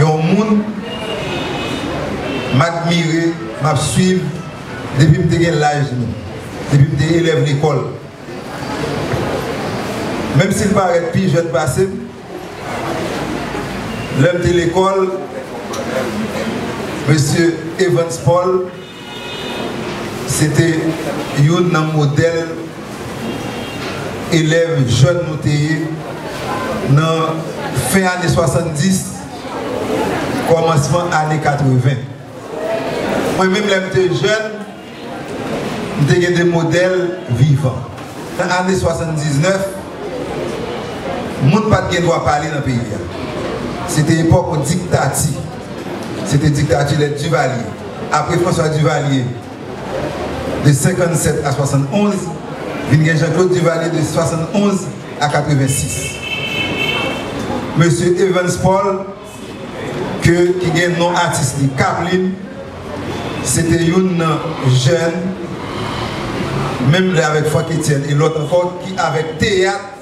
Yon moun m admire, m ap swiv depi m te gen laj nou, depi m te elèv lekòl. Menm si l parèt pi jèn pase m, lè m te lekòl, Mesye Evans Paul Se te youn nan modèl elèv jèn nou te ye nan fen ane 70, kòmansman ane 80. Mwen menm lè m te jèn, m te gen de modèl vivan. Nan ane 79, moun pa t gen dwa pale nan peyi a. Se te epòk yon diktati. Se te diktati lè Divalye. Apre François Duvalier, de 57 a 71, vin gen Jean Claude Duvalier, de 71 a 86. Mesye Evans Paul, ke ki gen non atis li Kaplim, se te youn nan jèn, menm lè avèk Frankétienne e lòt ankò, ki avèk teyat,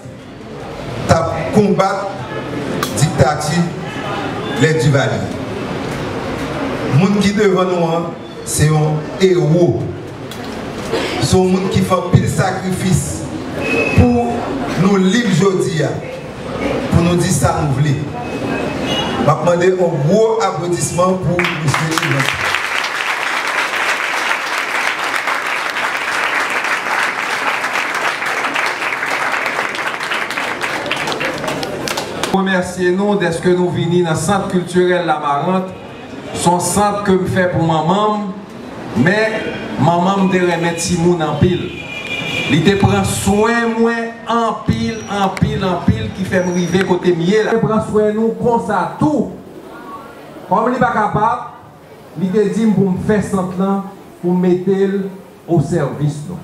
t ap konbat diktati lè Duvalier. Moun ki devan nou an se yon ewo. Se yon moun ki fè anpil sakrifis pou nou lib jodi a, pou nou di sa nou vle. Map mande yon gwo aplodisman pou Misye Evans. Remèsye nou dèske nou vini nan sant kiltirèl Lamarant Son sant ke m fè pou manman m, men manman m te renmen timoun anpil. Li te pran swen mwen anpil, anpil, anpil ki fè m rive kote m ye la. Li te pran swen nou konsa tou. Kòm li pa kapab, li te di m pou m fè sant lan pou m mete l o sèvis nou.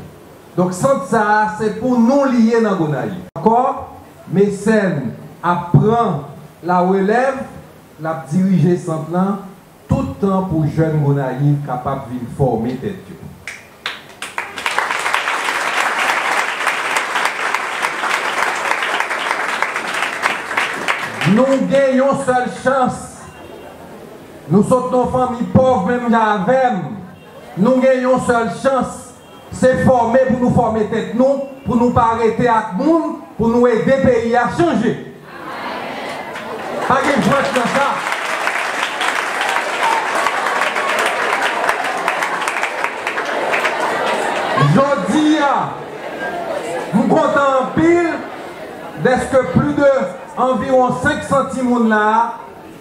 Donk sant sa a se pou nou li ye nan Gonayiv. Ankò, Mecène ap pran la relèv. L ap dirije sant lan tout tan pou jèn Gonayiv kapab vin fòme tèt yo. Nou gen yon sèl chans. Nou sot nan yon fanmi pòv menm jan avè m. Nou gen yon sèl chans. Se fòme pou nou fòme tèt nou pou nou pa rete ak moun pou nou ede peyi a chanje. Pa gen jwèt nan sa. Jodi a, m kontan anpil dèske pli de anviwon 500 timoun la a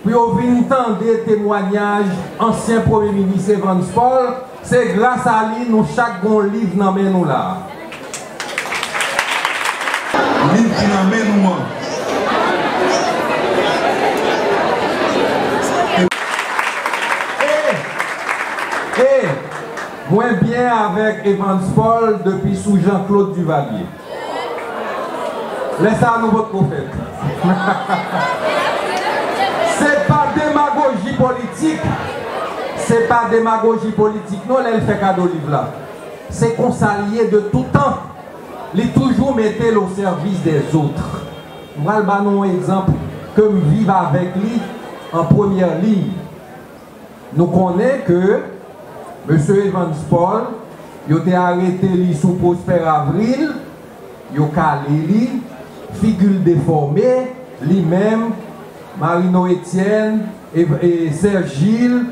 Pou yo vin tande temwanyaj ansyen premye minis Evans Paul, se gras a li nou chak gen yon liv nan men nou la a. Liv ki nan men nou an. E, e, mwen byen avèk Evans Paul depi sou Jean Claude Duvalier. Lè sa a nou pot ko fèt. Se pa demagoji politik, se pa demagoji politik non lè l fè kado liv la. Se konsa li ye de tout tan. Li toujou mete l o sèvis dè zotre. M pral ba nou yon egzanp ke m viv avèk li an premyè liy. Nou konnen ke Mesye Evans Paul, yo te arete li sou Prosper Avril, yo kale li, figi l defòme, li menm, Marino Etienne, e Serge Gilles,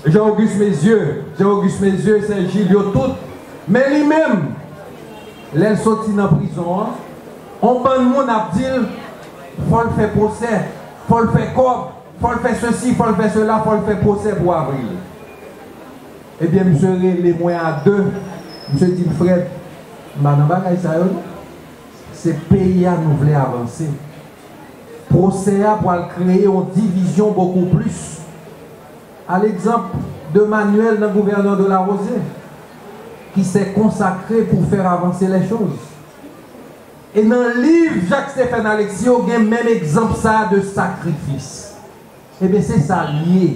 Jean Auguste Mézieux, Jean Auguste Mézieux, Serge Gilles, yo tout. Men li menm, lè l soti nan prizon an, on bann moun ap di l, fò l fè pwosè, fò l fè kòb, Fò l fè sesi, fò l fè sela, fò l fè pwosè pou Avril. Ebyen misye rele mwen a 2, misye di m, Frèd, m pa nan bagay sa yo non. Se peyi a nou vle avanse. Pwosè a pwal kreye yon divizyon bokou plis. A legzanp de Manuel nan gouvènè de la Rosier, ki sè konsakre pou fèr avanse lè choz. E nan liv Jacques Stephen Alexis yo gen menm egzanp sa de sakrifis. Ebyen se sa l ye.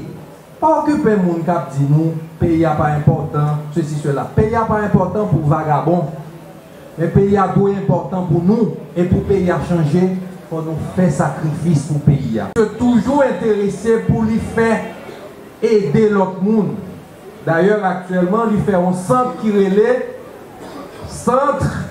Pa okipe moun k ap di nou peyi a pa enpòtan, sesi sela. Peyi a pa enpòtan pou vagabon. Men peyi a dwe enpòtan pou nou. E pou peyi a chanje, fò nou fè sakrifis pou peyi a. Yo toujou enterese pou li fè ede lòt moun. Dayè aktyèlman li fè yon sant ki rele Centre.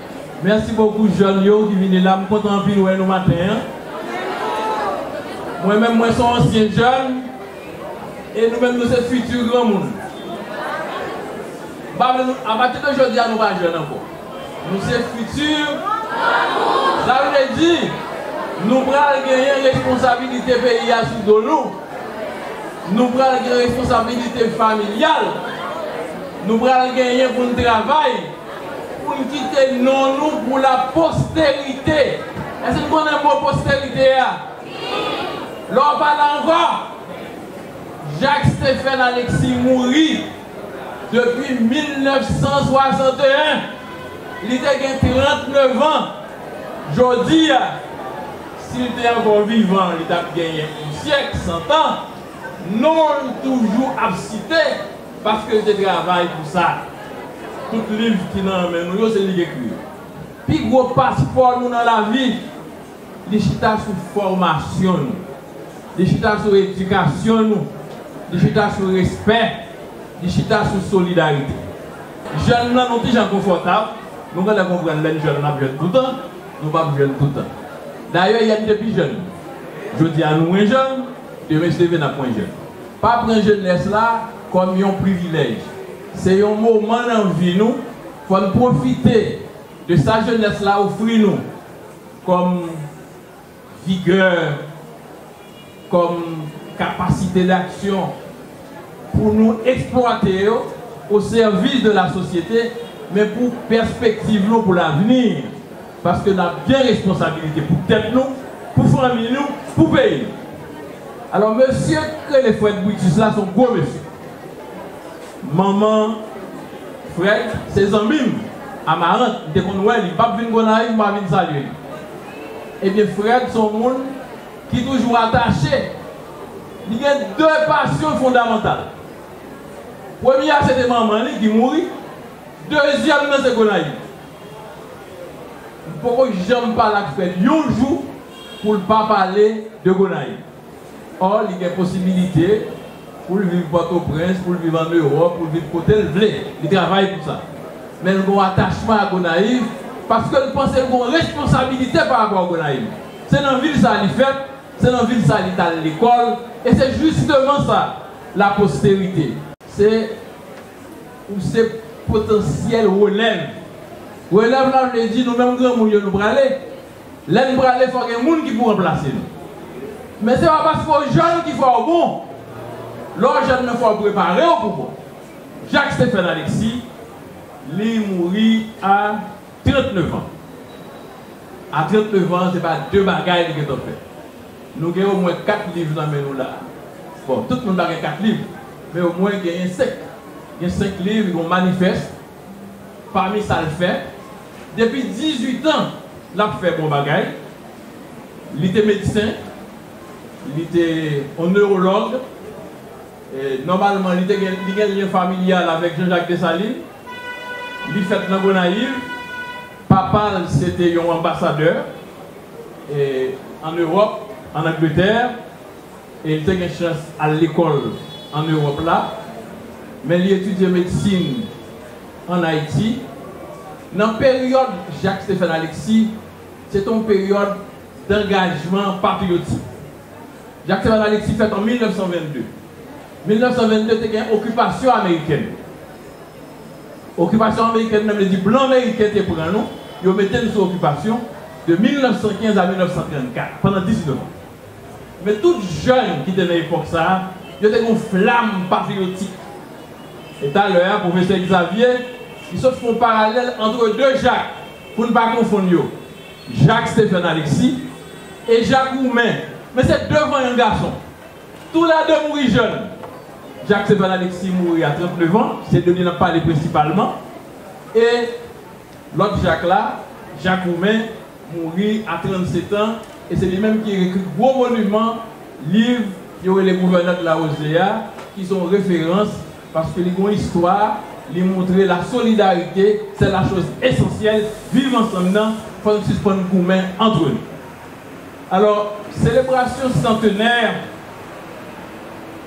Merci beaucoup jeune yo ki vini la m kontan anpil wè nou maten an mwen menm mwen son ansyen jeune e nou menm nou se futur granmoun m pa vle nou apati de jodi a nou pa jeune ankò nou se futur granmoun sa vle di nou pral genyen responsabilité peyi a sou do nou nou pral gen responsabilité familial nou pral genyen pou n travay. Pou n kite non nou pou la posterite. Èske n konnen mo posterite a? Lè w pa la ankò, Jak Stefèn Aleksi mouri depi 1961. Li te gen 39 an. Jodi a, si l te ankò vivan, li t ap genyen yon syèk, santan, non l toujou ap site. Paske l te travay pou sa. Tout liv ki nan men nou yo, se li k ekri yo. Pi gwo paspò nou nan lavi, li chita sou fòmasyon nou. Li chita sou edikasyon nou. Li chita sou respè. Li chita sou solidarite. Jèn nan nou ki jan konfòtab, nou gen lè konprann lè n jèn n ap jèn toutan, nou p ap jèn toutan. Dayè, yè n te pi jèn. Jodi a nou mwen jèn, demen si Dieu veut n ap mwen jèn. Pa pran jenès la kòm yon privilèj. Se yon moman nan vi nou, fò n pwofite de sa jenès la ofri nou kòm vigè, kòm kapasite daksyon pou nou eksplwate yo o sèvis de la sosyete, men pou pèspektiv nou pou lavni. Paske nap gen responsabilite pou tèt nou, pou fanmiy nou, pou peyi nou. Alò mesye k rele Fred Brutus la son gwo mesye. Manman Fred se zanmim, Amarant, m te konn wè li, pap vin Gonayiv mpa vin salye li. Ebyen Fred son moun ki toujou atache, li gen 2 pasyon fondamantal. Premye a se te manman li ki mouri, dezyèm nan se Gonayiv. M poko janm pale ak frè m yon jou pou l pa pale de Gonayiv. Ò li gen posibilite pou l viv Pòtoprens, pou l viv ann Ewòp, pou l viv kote l vle. Li travay pou sa. Men l gen yon atachman a Gonayiv paske l panse l gen yon responsabilite pa rapò a Gonayiv. Se nan vil sa a li fèt, se nan vil sa a li t al lekòl e se jisteman sa laposterite. Se Ou se potansyèl relèv. Relèv la vle di nou menm granmoun yo nou prale. Lè n prale fò gen moun ki pou ranplase nou. Men se pa paske w jèn ki fè w bon. Lè w jèn men fò w prepare w pou bon. Jacques Stéphane Alexis, li mouri a 39 an. A 39 an se pa de bagay li gentan fè. Nou gen omwen 4 liv nan men nou la a. Bon, tout moun pa gen 4 liv, men omwen genyen 5. Gen 5 liv, gen yon manifès pami sa l fè. Depi 18 an, l ap fè bon bagay. Li te medsen, li te yon newològ. Nòmalman, li gen lyen familyal avèk Jean-Jacques Dessalines. Li fèt nan Gonayiv. Papa l se te yon anbasadè ann Ewòp, ann Angletè, e l te gen chans al lekòl ann Ewòp la. Men li etidye medsin ann Ayiti. Nan peryòd Jacques Stéphane Alexis, se te yon peryòd dangajman patriyotik. Jacques Stéphane Alexis fèt an 1922. 1922 te gen okipasyon amerikèn. Okipasyon amerikèn nan vle di blan meriken te pran nou, yo mete n sou okipasyon de 1915 a 1934, pandan 19 an. Men tout jèn ki te nan epòk sa a, yo te gen yon flam patriyotik. E talè a, pwofesè Egzavye, li sot fè yon paralèl antre de Jak, pou n pa konfonn yo, Jak Stephen Alexis e Jak Roumen, men se de vanyan gason. Tou la 2 mouri jèn. Jacques Seval Alexis mouri a 39 an, se de li n ap pale prensipalman. E lòt Jacques la, Jacques Roumain, mouri a 37 an, e se li menm ki ekri gwo moniman liv yo rele Gouvènè de la Rosée a, ki se yon referans, paske li gen yon istwa, li montre la solidarite, sè la choz esansyèl, viv ansanm nan, fò n sispann goumen antre nou. Alò, selebrasyon santenè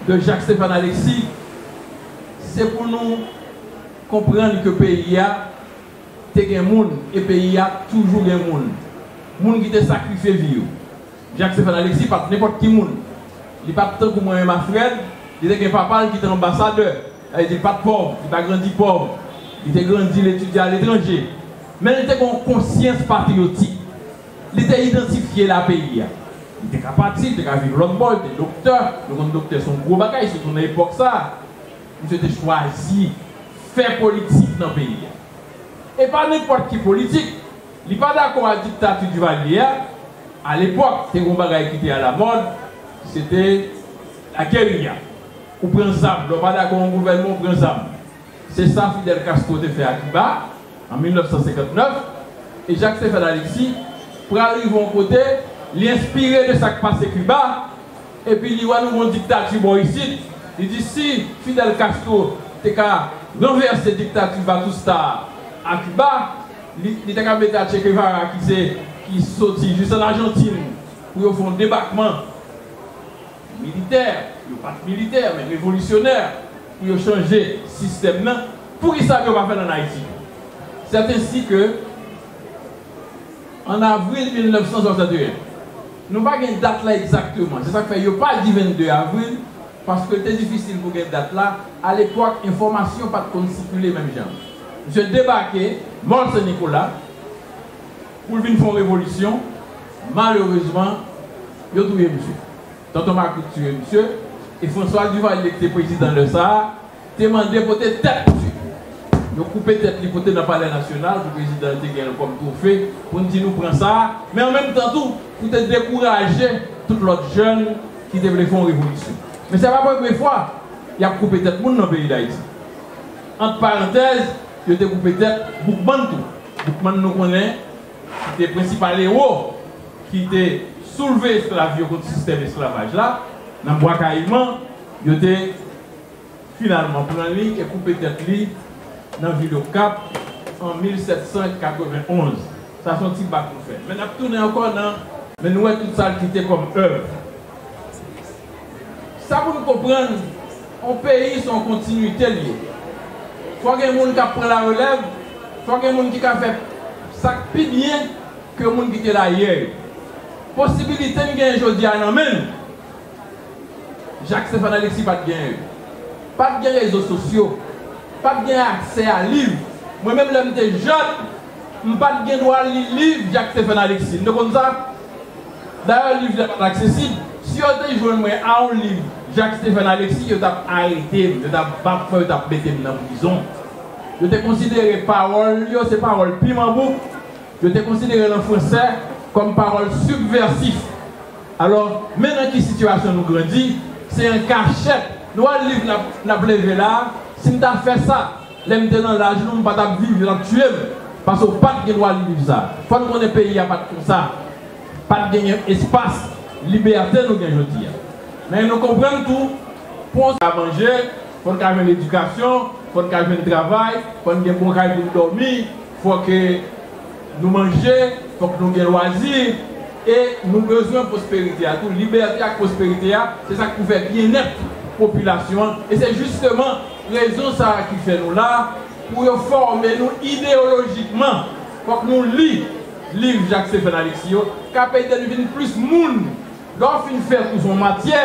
de Jacques Stéphane Alexis, se pou nou konprann ke peyi a te gen moun e peyi a toujou gen moun. Moun ki te sakrifye vi yo. Jacques Stéphane Alexis pa t nenpòt ki moun. Li pa t tankou mwen menm ak Fred, li te gen papa l ki te anbasadè. Sa vle di li pa t pòv, li pa grandi pòv. Li te grandi, li etidye aletranje. Men li te gen yon konsyans patriyotik. Li te idantifye la peyi a. Li te ka pati, li te ka viv lòt bò, li te doktè, yo konn doktè se yon gwo bagay sitou nan epòk sa a. Misye te chwazi fè politik nan peyi a. E pa nenpòt ki politik, li pa dakò a diktati Duvalier a, a lepòk te gen yon bagay ki te alamòd, se te la guerilla. Ou pran zam, lè w pa dakò yon gouvènman ou pran zam. Se sa Fidel Castro te fè a Kiba an 1959 e Jacques Stéphane Alexis pral rive yon kote li enspire de sa k pase Kiba epi li wè nou gon diktati bò isit li di si Fidel Castro te ka ranvèse diktati Vatusta a a Kiba li ta ka mete a Che Guevara ki se ki soti jis an Ajantin pou yo fè yon debakman Militè, yo pat militè men revolisyonè pou yo chanje sistèm nan, poukisa yo pa fèl an Ayiti tou? C'est ainsi que en avril 1961, nou pa gen dat la egzakteman, se sak fè yo pa di 22 avril paske l te difisil pou gen dat la, a lepòk enfòmasyon pat konn sikile menm jan. Misye debake Mòl Sen Nikola. Pou l vin fè yon revolisyon, malerezman, yo touye misye. Tonton Maklik tiye misye, e François Duvalier ki te prezidan lè sa a, te mande pote tèt misye. Yo koupe tèt li pote nan Palè Nasyonal pou prezidan an te gen l kòm twofe, pou n di nou pran sa a, men an menm tan tou, pou te dekouraje tout lòt jèn ki te vle fè yon revolisyon. Men se pa premye fwa y ap koupe tèt moun nan peyi Dayiti. Ant parantèz, yo te koupe tèt Boukman tou. Boukman nou konnen ki te prensipal ewo ki te soulve esklav yo kont sistèm esklavaj la nan Bwa Kayiman, yo te finalman pran li e koupe tèt li nan vil Okap an 1791. Sa son ti bak nou fè men nap tounen ankò nan. Men nou wè tout sa l kite kòm èv. Sa pou nou konprann, yon peyi se yon kontinuite li ye. Fò gen moun k ap pran la relèv, fò gen moun ki ka fè sa k pi byen ke moun ki te la yè yo. Posibilite n genyen jodi a nan men nou, Jacques Stéphane Alexis pa t genyen yo. Pa t gen rezo sosyo, pa t gen aksè a liv. Mwen menm lè m te jèn, m pa t gen dwa li liv Jacques Stéphane Alexis. Nou te konn sa? Dayè liv la pat aksesib, si yo te jwenn mwen a yon liv Jacques Stéphane Alexis yo tap arete m, yo tap bat mwen, yo tap mete m nan prizon. Yo te konsidere pawòl li yo se pawòl piman bouk, yo te konsidere l an fransè kòm pawòl sibvèsif. Alò, men nan ki sitiyasyon nou grandi, se an kachèt nou al liv nap leve la, si m ta fè sa. Lèm te nan laj nou m pa tap viv yo tap tiyem pase w pat gen dwa viv sa fòn konnen peyi a pat konsa pat genyen espas libète nou gen jodi a men nou konprann tou pou on ka manje fòn ka jwenn edikasyon fòn ka jwenn travay fòn gen bon kay pou n dòmi fòk nou manje fòk nou gen lwazi e nou bezwen pwosperite a tou libète ak pwosperite a se sak pou fè byennèt popilasyon an e se jisteman Rezon sa a ki fè nou la, pou yo fòme nou ideyolojikman. Fòk nou li liv Jak Stefen Aleksi yo, k ap ede n vin plis moun. Lè w fin fè kou sou yon matyè,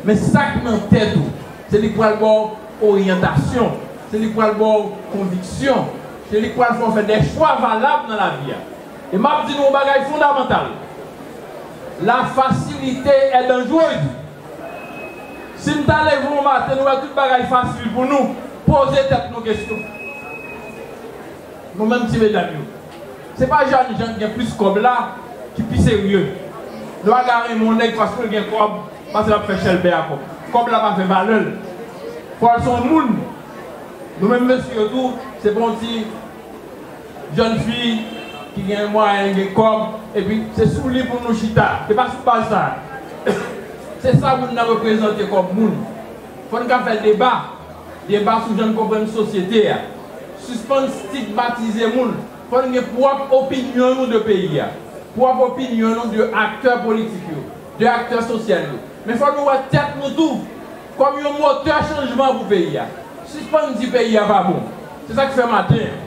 men sa k nan tèt ou. Se li k pral ba w oryantasyon. Se li k pral ba w konviksyon. Se li k pral fè w fè de chwa valab nan lavi a. E m ap di nou yon bagay fondamantal, lafasilite è danjrez. Si n ta leve yon maten nou wè tout bagay fasil pou nou, poze tèt nou kesyon, nou menm ti medam yo, se pa Janny Jean ki gen plis kòb la ki pi serye? Nou pa ka renmen yon nèg paske l gen kòb, paske l ap fè chèlbè a kòb. Kòb la pa fè valè l. Fò l se yon moun. Nou menm mesye yo tou, se pa yon ti. Jèn fi ki gen mwayen, gen kòb, epi se sou li pou nou chita. Se pa sou baz sa. Se sa moun nan reprezante kòm moun. Fò n ka fè deba. Deba sou jan n konprann sosyete a. Sispann stigmatize moun. Fò n gen pwòp opinyon nou de peyi a. Pwòp opinyon nou de aktè politik yo. De aktè sosyal yo. Men fò nou wè tèt nou tou. Kòm yon motè chanjman pou peyi a. Sispann di peyi a pa bon. Se sa k fè maten an,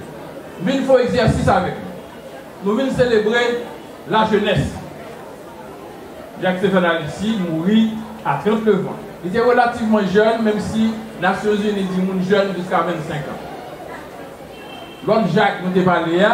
m vin fè yon egzèsis avèk nou. Nou vin selebre lajenès. Jak Stefàn Alisi mouri a 39 an. Li te relativman jèn, menm si Nasyonzini di moun jèn jiska 25 an. Lòt Jak nou te pale a,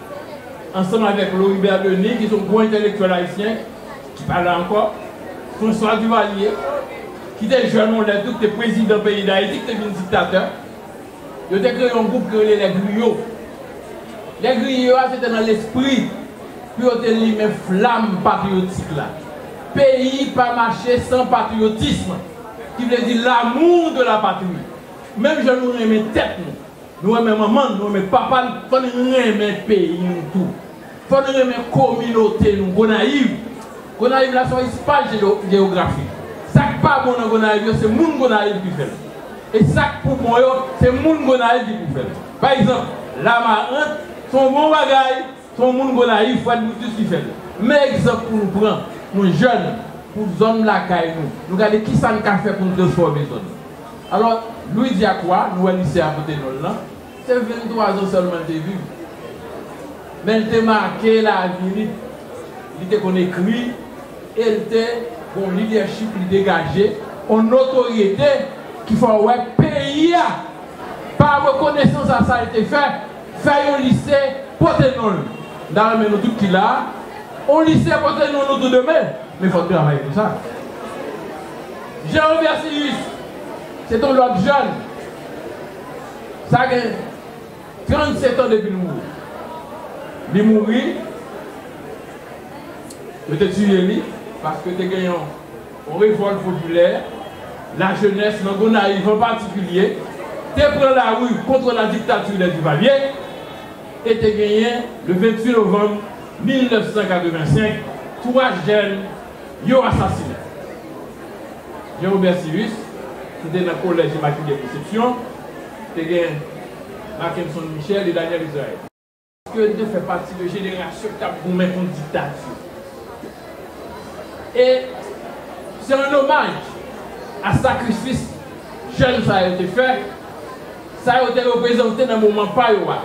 ansanm avèk Loribert Denis ki se yon gwo entèlektyèl ayisyen ki pa la ankò, François Duvalier ki te jèn yon lè tou, ki te prezidan peyi Dayiti, ki te vin diktatè, yo te kreye yon gwoup ki rele Les Griots. Les Griots a se te nan lespri pou yo te limen flam patriyotik la. Peyi pa mache san patriyotism, ki vle di l'amour de la patrie. Menm jan nou renmen tèt nou, Nou renmen manman n, nou renmen papa n, fò n renmen peyi nou tou. Fò n renmen kominote nou. Gonayiv Gonayiv la se yon espas jeyografik. Sa k pa bon nan Gonayiv yo, se moun Gonayiv ki fè l. E sa k pou bon yo, se moun Gonayiv ki pou fè l. Pa egzanp, Lamarant se yon bon bagay, se yon moun Gonayiv, Fred Brutus, ki fè l. Men egzanp pou nou pran, nou jèn, pou zòn lakay nou. Nou gade ki sa n ka fè pou n transfòme zòn. Alò, Louidji ak Wa, nou wè lise a pote non l lan, se venntwa zan sèlman l te viv. Men l te make lavi li. Li te konn ekri e l te gen yon lidèchip li degaje, yon notoryete ki fè w wè peyi a, pa rekonesans a sa l te fè, fè yon lise pote non l. M ta renmen nou tout ki la a, yon lise pote non nou tou demen, men fò n travay pou sa. Jean Robert Sirius se ton lòt jèn sa gen 37 an depi l mouri. Li mouri, yo te tiye li paske te gen yon revòlt popilè, lajenès nan Gonayiv an patikilye te pran lari kontre la diktati de Divalye e te genyen le 28 novanm 1985 twa jèn Yo asasinen Jean Robert Cyrus ki te nan Kolèj Imakile Konsepsyon, te gen Mackenson Michel e Daniel Israël. Ke yo te fè pati de jenerasyon ki t ap goumen kont diktati. E se an omaj a sakrifis jèn sa yo te fè, sa yo te reprezante nan moman pa yo a,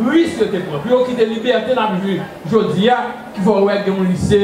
ris yo te pran pou yo kite libète n ap jwi jodi a ki fè w wè gen yon lise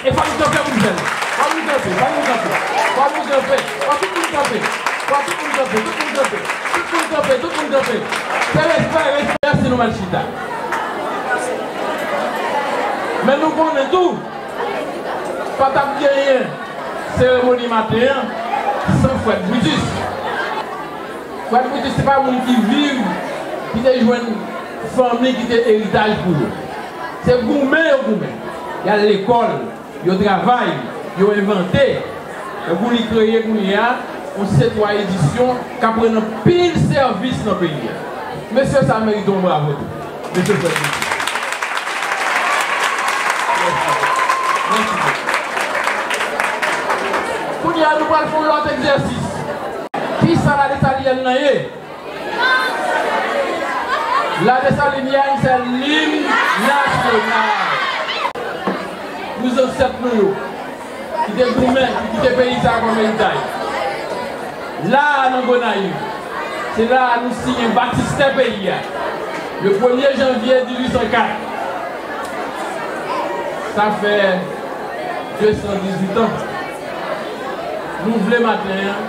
E fòk nou kanpe moun fèl. Fòk nou kanpe, fòk nou kanpe, fòk nou kanpe, fòk tout moun kanpe, fòk tout moun kanpe, tout moun kanpe, tout moun kanpe, tout moun kanpe. Fè respè, respè. Mèsi nou al chita. Men nou konnen tou pa t ap genyen seremoni maten an san Fred Brutus. Fred Brutus se pa moun ki viv, ki te jwenn fanmi ki te eritaj pou yo. Se goumen yo goumen. y al lekòl, yo travay, yo envante. Tankou li kreye kounye a yon Cetwa Edisyon k ap rann anpil sèvis nan peyi a. Mesye sa merite yon bravo tou. Mesye Fred Mouton. Mèsi bokou. Mèsi bokou. Kounye a nou pral fè yon lòt egzèsis. Ki sa Lane Italyen nan ye? La Dessalinienne se lim nasyonal. Pou zansèt nou yo ki te goumen pou kite peyi sa kòm eritay. La a nan Gonayiv, se la a nou siyen batistè peyi a le premye janvye 1804. Sa fè 218 an. Nou vle maten an.